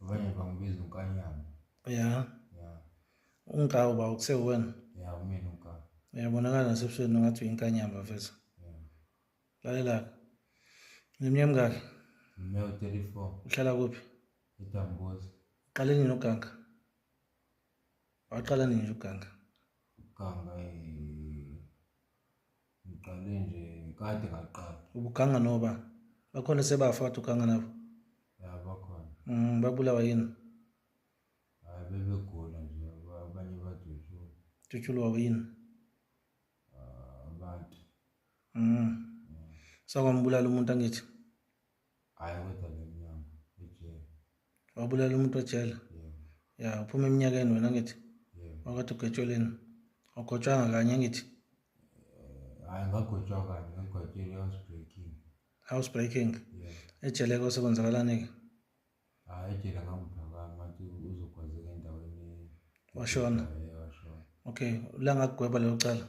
Vane vangibiza unkanyana. Yeah. Yeah. Unkawu ba ukusewena. Yeah, umina unkawu. Uyabonakala nasebusweni ngathi uyinkanyamba mfethu. Yeah. Lalela. Neminyaka mingaki? Mina 34. Uhlala kuphi? Itambozi. Qale nini uganga? Waqala nini uganga? Uganga eh Ngiqale nje kade ngaqala. Ubuganga noba bakhona sebafa wathi uganga nabo. Ya bakhona. Mm babulawa yini? Hayi bebegula nje abanye badutshulwa. Dutshulwa yini? Ah, abantu. Mm. Sakwambulala umuntu angithi. Hayi kodwa le mnyama ejele. Wabulala umuntu ejele? Yeah. Ya, uphuma eminyakeni wena ngithi. Yeah. Wakade ugetsheleni? Awugotshwanga kanye ngithi. Eh, Hayi ngagotshwa kanye, ngagotshela house breaking. House breaking. Yeah. Ejele ke osekwenzakalani ke? Hayi ejele ngamphaka manje uzokwazeka endaweni. Washona. Yeah, washona. Okay, la ngakugweba lelo cala.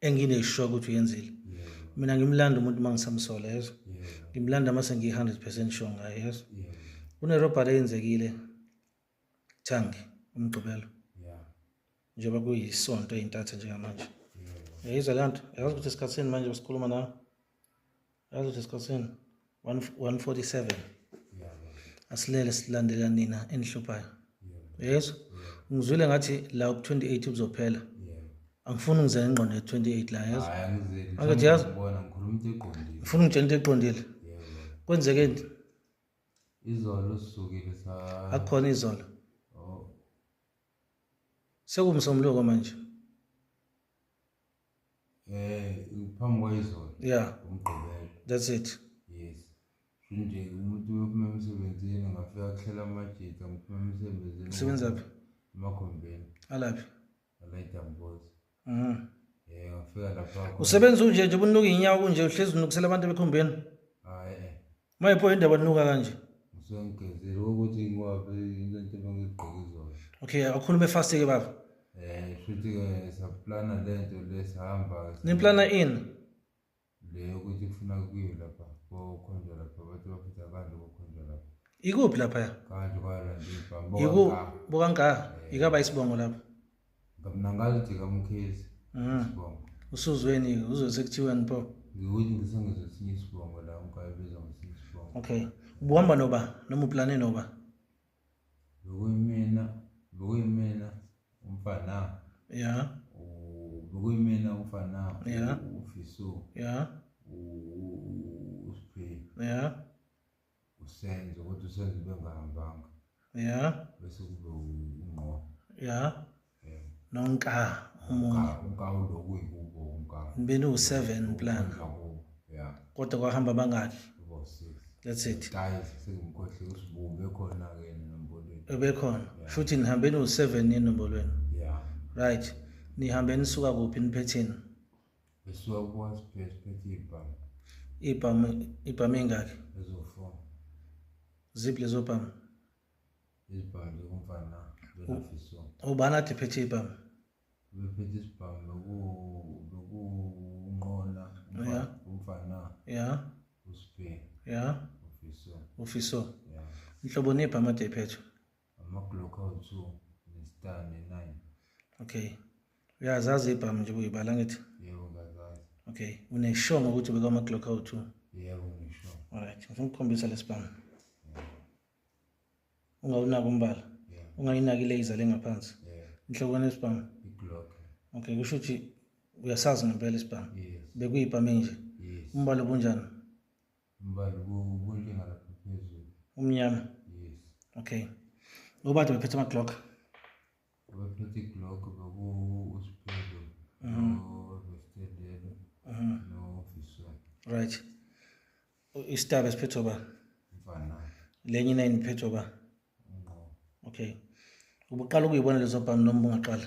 engine is sure ukuthi uyenzile yeah. mina ngimlanda umuntu uma ngisamsola yezo yeah. ngimlanda uma sengiyi-hundred percent sure ngaye yezo yeah. kunerobhari eyenzekile thangi umgqibelo yeah. njengoba kuyisonto eyintatha njengamanje yeah. yayizwa le nto yazi ukuthi esikhathini manje basikhuluma nawe Yazi ukuthi esikhosini 147 asilele silandela nina enihluphayo yeso ngizwile ngathi la ku-28 kuzophela angifuni ngize ngengqondo ye-28 la yeso angithi yazi ngifuna ungitshela into eqondile kwenzeke nti izolo sisukile sa akukhona izolo oh. sekumsomloko manje Eh phambi kwayizolo. Yeah. Umgqibelo. That's it. Yes. Nje umuntu uyophuma emsebenzini ngafika kuhlela amajita ngiphuma emsebenzini. Usebenza phi? Emakhombeni. Alaphi? Alayita mbozi. Mhm. Eh ngafika lapha. Usebenza unje nje ubunuka inyawo kunje uhlezi unukusela abantu bekhombeni. Mayipho indaba nuka kanje. Usengigezile ukuthi ngwabe into into ngigqoke izosho. Okay, akhulume fast ke baba. Eh, futhi ke saplana lento lesihamba. Niplana in? Le ukuthi kufuna kuyiwe lapha. Kokhonjwa lapha bathi bafitha abantu kokhonjwa lapha. Ikuphi lapha ya? Kanjwa kwala nje bamba. Yiku bokanka. Yikaba isibongo lapha. ngamnangaliti kamukhezi mm. sibongo usuzweni uzose kuthiweni pho ngikuthi ngisengizwe esinye isibongo la ungayibiza ngesinye isibongo okay ubuhamba noba noma uplane noba bekuyimina bekuyimina umfana ya bekuyimina umfana ya ufiso ya usphe ya usenzo kodwa usenzo bengahambanga ya bese kube ungqo ya nonka umunye unka uloku ikubo unka nibeni u7 plan ya kodwa kwahamba bangaki that's it guys sengikhohle usibumbe khona ke nombolweni ebekhona futhi nihambe no7 enombolweni yeah right nihambe nisuka kuphi niphetheni Besuka kuwasphethe phethe ibhamu. Ibhamu ibhamu ingaki? Ezofo. Zip lezo bhamu. Izibhamu kumfana benafiso. Ubani athi phethe ibhamu? Bephethe isibhamu loku loku unqola umfana. Ya. Usphe. Ya. Ufiso. Ufiso. Ya. Inhlobo nebhamu athi iphethe. amaglock awu-two nestar ne-nine okay uyazazi ibhamu nje kuyibala ngithi yebo ngazazi okay uneshongo ukuthi ubeka amaglock awu-two yebo ngisho alright ngifuna ukukhombisa lesibhamu ungawunaki umbala ungayinaki ilaser lengaphansi inhlokwane yesibhamu okay kusho ukuthi uyasazi ngempela isibhamu bekuyibhamu enje umbala obunjani Mbali kukunje ngalapha phezulu. Umnyama. Yes. Okay. Ngoba nje bephethe ama Glock. Bephethe Glock beku uSiphezo. Mhm. Nostedelelo. Mhm. No officer. Right. Istab esiphethe ba. Mfana. Lenye nine iphethe ba. Ngo. Okay. Ubuqala ukuyibona lezo bhamu noma ungaqala?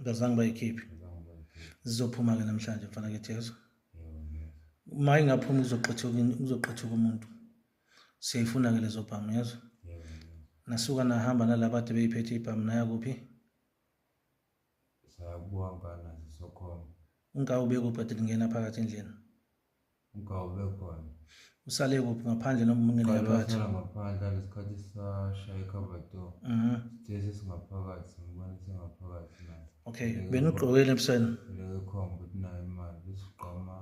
Ngazange bayikhiphe. Zizophuma ke namhlanje mfana ke Jesu. Uma ingaphuma kuzoqhathuka kuzoqhathuka umuntu. Siyayifuna ke lezo bhamu yezwa. Nasuka nahamba nalaba ade beyiphethe ibhamu naya kuphi? Sayakuhamba nazo sokhona. Ungawu bekuphathe lingena phakathi endlini. usale kuphi ngaphandle noma umuntu ngaphakathi ngaphandle lesikhathi sasha icover door mhm sithe singaphakathi ngibona singaphakathi la okay bena ugqokile ebusweni lekhomba ukuthi nayo imali besigqoma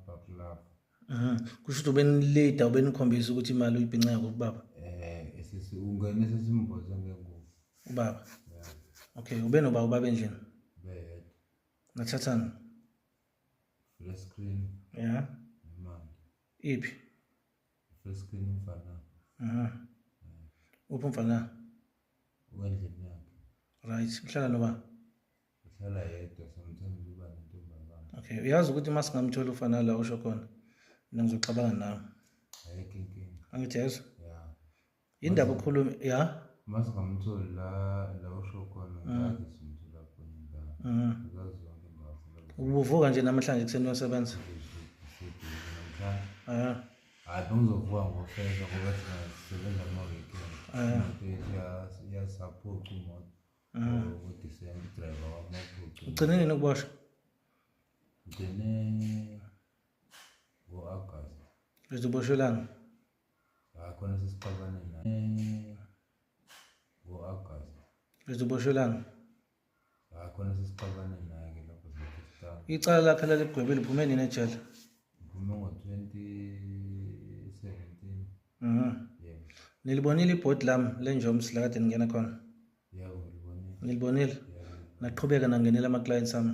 bakulapha mhm kusho ukuthi ubenilida ubenikhombisa ukuthi imali uyibhinca yakho kubaba eh sisi ungene sesimboze ngengubo ubaba okay ubenoba ubaba endlini beyedwa nathathana Flat screen. Yeah. Imali. Iphi? Flat screen umfana. Aha. Uphi umfana? Wendlini yakhe. Right, uhlala noba? Uhlala yedwa sometimes uba nentombazana. Okay, uyazi ukuthi uma singamthola ufana la usho khona. Mina ngizoxabana nawe. Ayikho inkinga. Angithi yezwa? indaba ukhuluma ya mas ngamtholi la la usho khona mm. ngazi sinto lapho la mm. ngazi zonke ndawo ubuvuka nje namhlanje kuseni uyosebenza eh hayi bengizovuka ngofeza ngoba sisebenza kuma weekend eh ya support umoto mm. ukuthi send driver wamoto ugcine nini ukuboshwa ugcine ngo-agasti uzoboshwelana akhona ah, sesixabane naye eh, ngo-agast lizoboshelana akhona ah, sesixabane naye ke lapho icala lakhe laligwebe liphume nini ejele liphume ngo-twenty seventeen mhm. nilibonile ibhodi lam lenjoms lakade ningena khona nilibonile naqhubeka nangenela ama-clients ami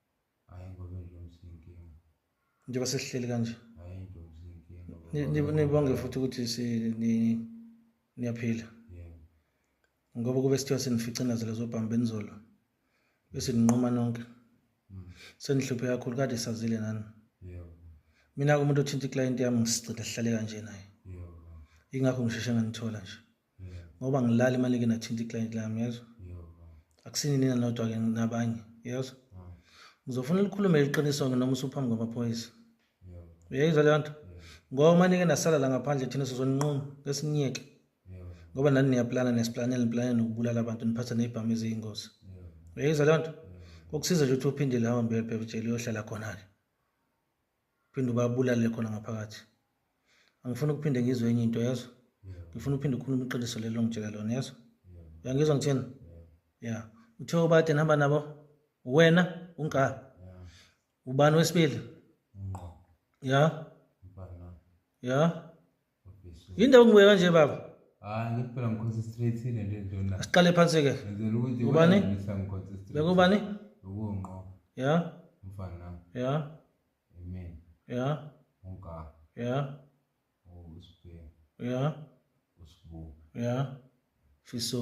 Hayi ngoba intombi sinkinga. Njengoba sesihleli kanje. Hayi intombi sinkinga. Nibonge futhi ukuthi si ni niyaphila. Yebo. Ngoba kube sithiwa senificinazela zobhamba enizolo. Bese ninquma nonke. Mm. Senihluphe kakhulu kade sazile nani. Yebo. Mina umuntu othinta iclient yami ngisigcina sihlale kanje naye. Yebo. Ingakho ngisheshe nganithola nje. ngoba ngilala imali ke nathinta iclient lami yezwa akusini nina nodwa ke nabanye yezwa ngizofuna likhulume iqiniso ke noma usuphambi kwamaphoyisa uyayizwa leyo nto ngoba uma nike nasala la ngaphandle thina sizonquma ngesiniyeke ngoba nani niyaplana nesiplanela niplane nokubulala abantu niphatha ney'bhamu eziyingozi uyayizwa leyo nto kokusiza nje ukuthi uphindele hambe uyobhebutshela uyohlala khona-ke phinde ubabulale khona ngaphakathi angifuni ukuphinde ngizwe enye into yezwa ngifuna uphinde ukhulume iqiniso lelo ngitshela lona yezwa uyangizwa ngithini ya uthe obade nihamba nabo wena unga ubani wesibili ya ya yindawo ngibuye kanje baba hayi ngithi phela ngikhosi straight ile nto endona asiqale phansi ke ngizela ukuthi ubani ngikhosi straight bekubani ukunqo ya mfana nami ya amen ya unka ya usbe ya usbu ya fiso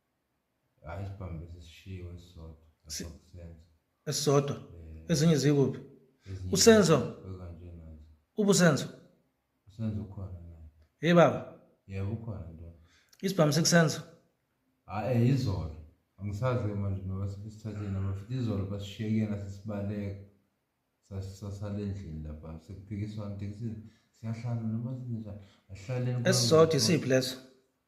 hayi isibhambe sisishiwe esisodwa Si- lapho kusenza esisodwa Eh, ezinye zikuphi ezinye usenzo kanje nazo ubusenzo usenza ukhona naye hey baba yebo ukhona nto isibhamu sikusenzo hayi eh, izolo angisazi ke manje noba sibisithatheni noma futhi izolo basishiye kuyena sesibaleka Sas- sasala endlini lapha sekuphikiswana tekisini siyahlala noma sinjani ahlaleni esisodwa isiphi leso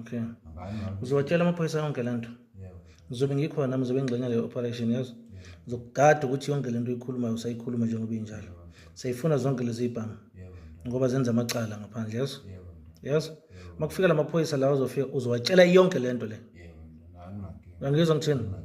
okay uzowatshela amaphoyisa yonke le nto ngizobe ngikhona nami ngizobe ngingxenya leyo operation yazo ngizokugada ukuthi yonke le nto uyikhulumayo usayikhuluma njengoba injalo sayifuna zonke lezi ibhamu ngoba zenza amacala ngaphandle yazo yazo uma kufika la maphoyisa lawa uzofika uzowatshela yonke le nto le angizwa ngithini